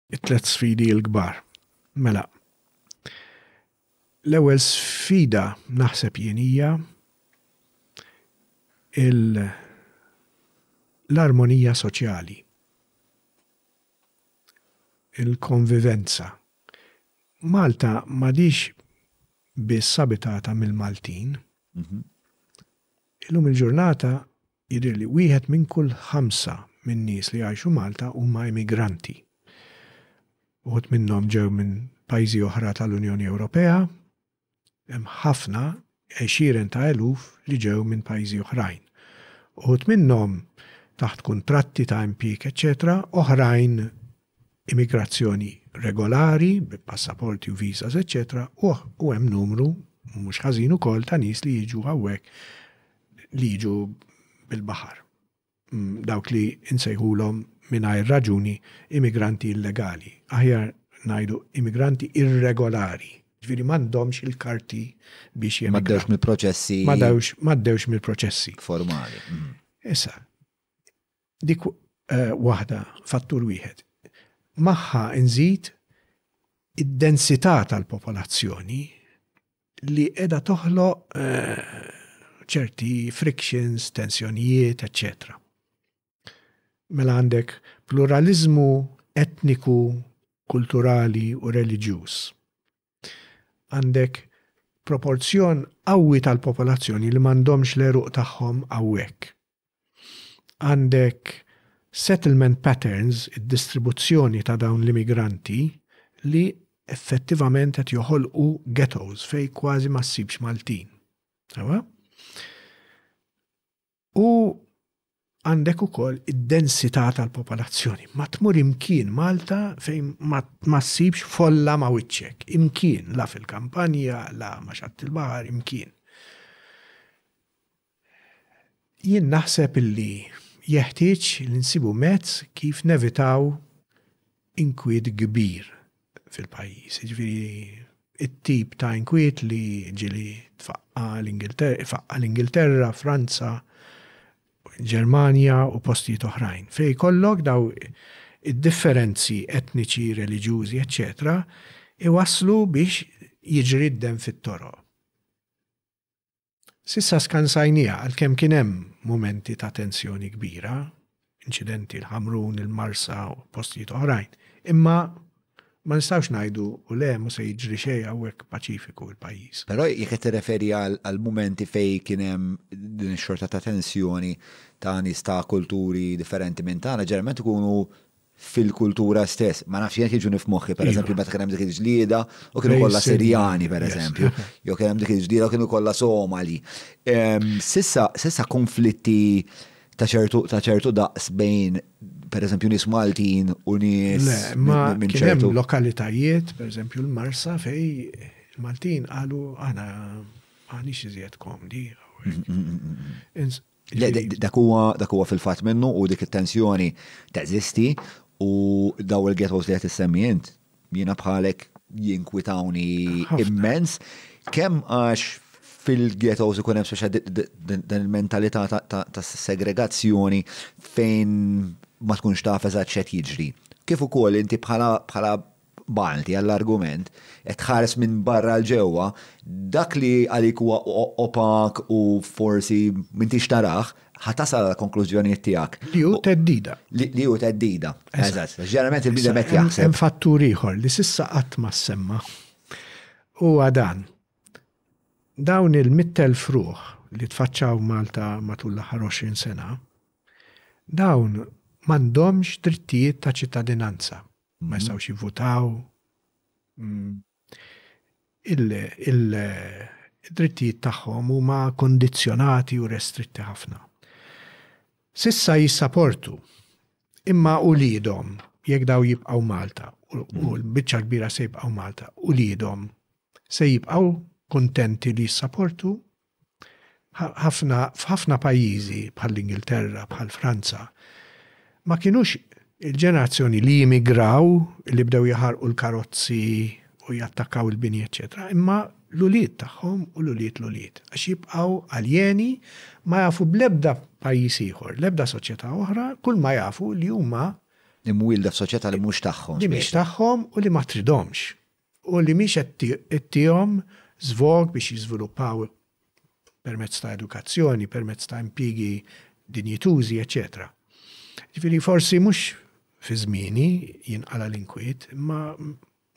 it-tliet sfidi l-kbar. Mela, l-ewwel sfida naħseb jien hija l-armonija soċjali, il-konvivenza. Malta madix biss abitata mill-Maltin. Mhm. Illum il-ġurnata Jidhirli wieħed minn kull ħamsa min-nies li jgħixu Malta huma immigranti. Uħud minnhom ġew minn pajjiżi oħra tal-Unjoni Ewropea, hemm ħafna, għexieren ta' eluf li ġew minn pajjiżi oħrajn. Uħud minnhom taħt kuntratti ta' impjieg eċċetera, oħrajn immigrazzjoni regolari bi passaporti u visas eċċetera u hemm numru mhux ħażin ukoll ta' nies li jiġu hawnhekk li jiġu bil-baħar. Mm, dawk li insejħulhom mingħajr raġuni immigranti illegali, aħjar ngħidu immigranti irregolari. Ġifieri m'għandhomx il-karti biex jemigraw. M'għaddewx mill-proċessi. M'għaddewx mill-proċessi. Formali. Mm. Issa, Dik waħda, fattur wieħed. Magħha nżid id-densità tal-popolazzjoni li qiegħda toħloq ċerti frictions, tensjonijiet, eċċetera. Mela għandek pluraliżmu etniku, kulturali u reliġjuż. Għandek proporzjon qawwi tal-popolazzjoni li m'għandhomx l-għeruq tagħhom hawnhekk. Għandek settlement patterns, id-distribuzzjoni ta' dawn l-immigranti, li effettivament qed joħolqu ghettos fejn kważi ma ssibx Maltin. Sewwa? U għandek ukoll id-densità tal-popolazzjoni. Ma tmur imkien Malta fejn ma ssibx folla ma wiċċek. Imkien, la fil-kampanja, la ma xatt il-bahar, imkien. Jien naħseb illi jeħtieġ li nsibu mezz kif nevitaw inkwiet kbir fil-pajjiż, jiġifieri t-tip ta' inkwiet li ġieli tfaqqa' l-Ingilterra, ifaqqa' l-Ingilterra, Franza, Ġermanja u postijiet oħrajn, fejn jkollok dawn id-differenzi etniċi, reliġjużi, eċċetera, iwasslu biex jiġri d-demm fit-toroq. S'issa skansajniha għalkemm kien hemm mumenti ta' tensjoni kbira, inċidenti l-Ħamrun, il-Marsa u postijiet oħrajn, imma ma nistgħux ngħidu u le mhu se jiġri xejn hawnhekk paċifiku l-pajjiż. Però jekk qed tirreferi għal mumenti fejn kien hemm din ix-xorta ta' tensjoni ta' nies ta' kulturi differenti minn tagħna, ġeneralment ikunu fil-kultura stess. Ma nafx jekk jiġuni f'moħħi, per eżempju, meta kien hemm dik il-ġlieda u kienu kollha Sirjani, per eżempju, jew kien hemm dik il-ġlieda u kienu kollha Somali. Sissa konflitti ta' ċertu daqs bejn per eżempju nies Maltin u nies minn ċertu. Lokalitajiet, per eżempju l-Marsa fej il-Maltin qalu aħna għanix iżjed komdi. Le, dak huwa dak huwa fil-fatt minnu u dik it-tensjoni teżisti u daw il-ghettos li qed issemmi int jiena bħalek jinkwitawni immens kemm għax fil-ghettos ikun hemm speċa din il-mentalità ta' segregazzjoni fejn ma tkunx taf eżatt x'qed jiġri. Kif ukoll inti bħala Malti għall-argument, qed tħares minn barra 'l ġewwa, dak li għalik huwa opak u forsi m'intix tarah, ħa tasal għall-konklużjonijiet tiegħek. Li hu theddida. Li hu theddida. Eżatt. Għax ġeneralment il-bniedem qed jaħseb. Hemm fattur ieħor li s'issa qatt ma ssemma'. Huwa dan. Dawn il-mitt elf ruħ li tfaċċaw Malta matul l-aħħar 20 sena, dawn m'għandhomx drittijiet ta' ċittadinanza. ma jistgħux jivvutaw. Mm, il-drittijiet tagħhom huma kondizzjonati u restritti ħafna. Sissa jissaportu imma ulidhom jekk daw jibqgħu Malta u mm. l-biċċa kbira se jibqgħu Malta, ulidhom se jibqgħu kontenti li jissaportu Ħafna, f'ħafna pajjiżi, bħall-Ingilterra, bħal Franza, ma kinux il-ġenerazzjoni li jimigraw, li bdew jaħarqu l-karozzi u jattakkaw il-bini eċċetera, imma l-ulied tagħhom u l-ulied l-ulied, għax jibqgħu aljeni, ma jafu bl-ebda pajjiż ieħor, l-ebda soċjetà oħra, kulma jafu li huma. Imwielda f'soċjetà li mhux tagħhom. Li mhix tagħhom u li ma tridhomx. u li mhix qed ittihom żvog biex jiżviluppaw permezz ta' edukazzjoni, permezz ta' impjiegi dinjitużi, eċċetera. Jiġifieri forsi mhux fi żmieni jinqala' l-inkwiet, imma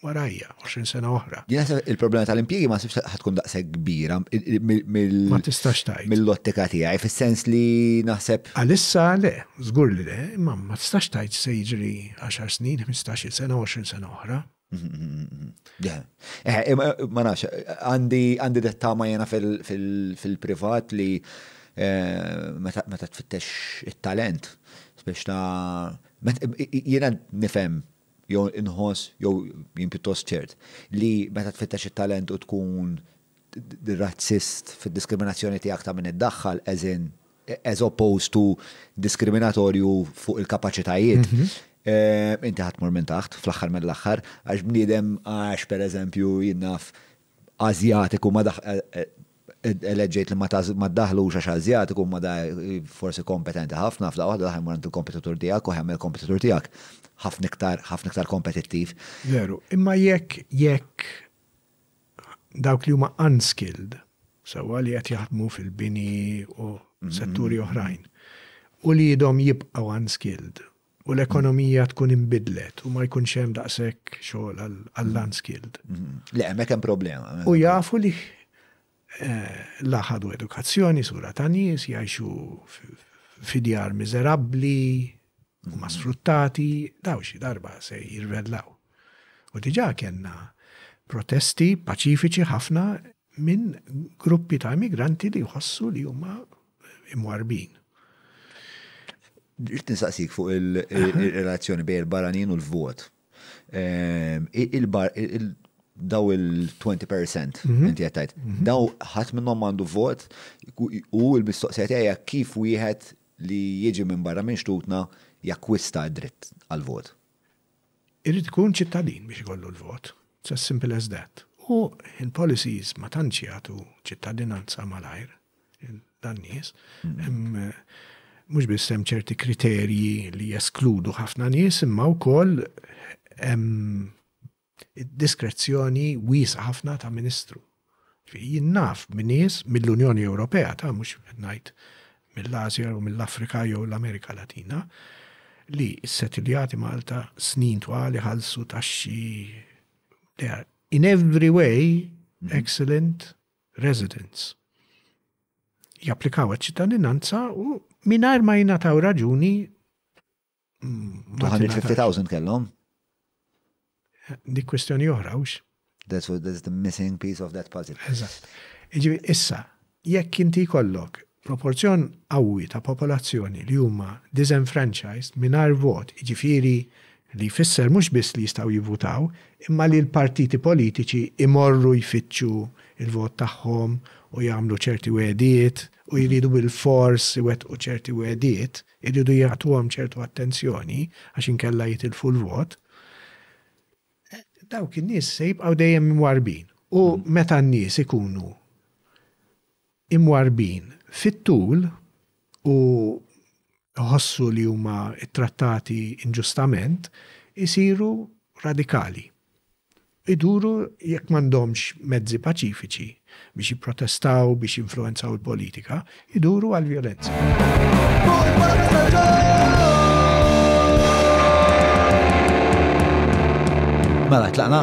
warajja, 20 sena oħra. Jien naħseb il-problema tal-impjiegi ma sibx ħatkun daqshekk kbira Ma tistax tajt. mill-ottika tiegħi, fis-sens li naħseb. Għalissa le, żgur li le, imma ma tistax tgħid x'se jiġri għaxar snin, ħmistax-il sena, 20 sena oħra. Eh, ma nafx, għandi dettama jena fil-privat li eh, meta tfittex il-talent, biex ta' jena nifem jew inħoss jew jien pjuttost ċert li meta tfittex il-talent u tkun razzist fid-diskriminazzjoni tiegħek ta' min iddaħħal as in as opposed to diskriminatorju fuq il-kapaċitajiet, inti ħa tmur minn taħt fl-aħħar mill-aħħar għax bniedem għax pereżempju jien naf Ażjatiku ma eleġġejt li ma ddaħħlux għax Ażjatiku imma da forsi kompetenti ħafna f'daqqa waħda daħal imur għand il-kompetitur tiegħek u ħemm il-kompetitur tiegħek ħafna iktar ħafna iktar kompetittiv. Veru, imma jekk jekk dawk li huma unskilled, sewwa li qed jaħdmu fil-bini u setturi oħrajn, uliedhom jibqgħu unskilled u l-ekonomija tkun inbidlet u ma jkunx hemm daqshekk xogħol għall-unskilled. Le, hemmhekk hemm problema. U jafu li eh, la ħadu edukazzjoni sura ta' nies, jgħixu fidjar miżerabbli, huma sfruttati, daw xi darba se jirvellaw. U diġà kellna protesti paċifiċi ħafna minn gruppi ta' immigranti li jħossu li huma imwarbin. Rrid nistaqsik fuq il-relazzjoni bejn il-barranin u l-vot. Ehm, daw il-20% mhm. inti għattajt, mhm. daw ħat minnom għandu vot u il-mistoqsija kif wieħed li jiġi minn barra minn xtutna jakkwista d-dritt għall-vot. Irid ikun ċittadin biex ikollu l-vot. It's as simple as that. U l-policies ma tantx jagħtu ċittadinanza malajr lil dan nies. Mhux biss hemm ċerti kriterji li jeskludu ħafna nies imma wkoll hemm id-diskrezzjoni wiesgħa ħafna ta' Ministru. Ġifieri jien naf b'nies mill-Unjoni Ewropea, ta' mhux qed ngħid mill-Asja jew mill-Afrika jew l-Amerika Latina, li s-settiljati Malta snin twal iħallsu taxxi they are in every way mhm. excellent residents. Japplikaw għal ċittadinanza u minar ma jingħataw raġuni 250,000 kellhom. Dik kwestjoni oħra, ux? That's, what, that's the missing piece of that puzzle. Eżatt. Iġi, issa, jekk inti kollok proporzjon qawwi ta' popolazzjoni li huma disenfranchised mingħajr vot, iġifieri li jfisser mhux biss li jistgħu jivvutaw, imma li l-partiti politiċi imorru jfittxu il-vot tagħhom u jagħmlu ċerti wedijiet u jridu bil-fors iwettqu ċerti wedijiet, Iridu jagħtuhom ċertu attenzjoni għax inkella jitilfu l-vot. Dawk in-nies se jibqgħu dejjem imwarrbin. U meta n-nies ikunu imwarrbin fit-tul u jħossu li huma ttrattati inġustament, isiru radikali. iduru jekk m'għandhomx mezzi paċifiċi biex jipprotestaw, biex jinfluwenzaw il-politika, iduru għall-vjolenza. Mela, tlaqna?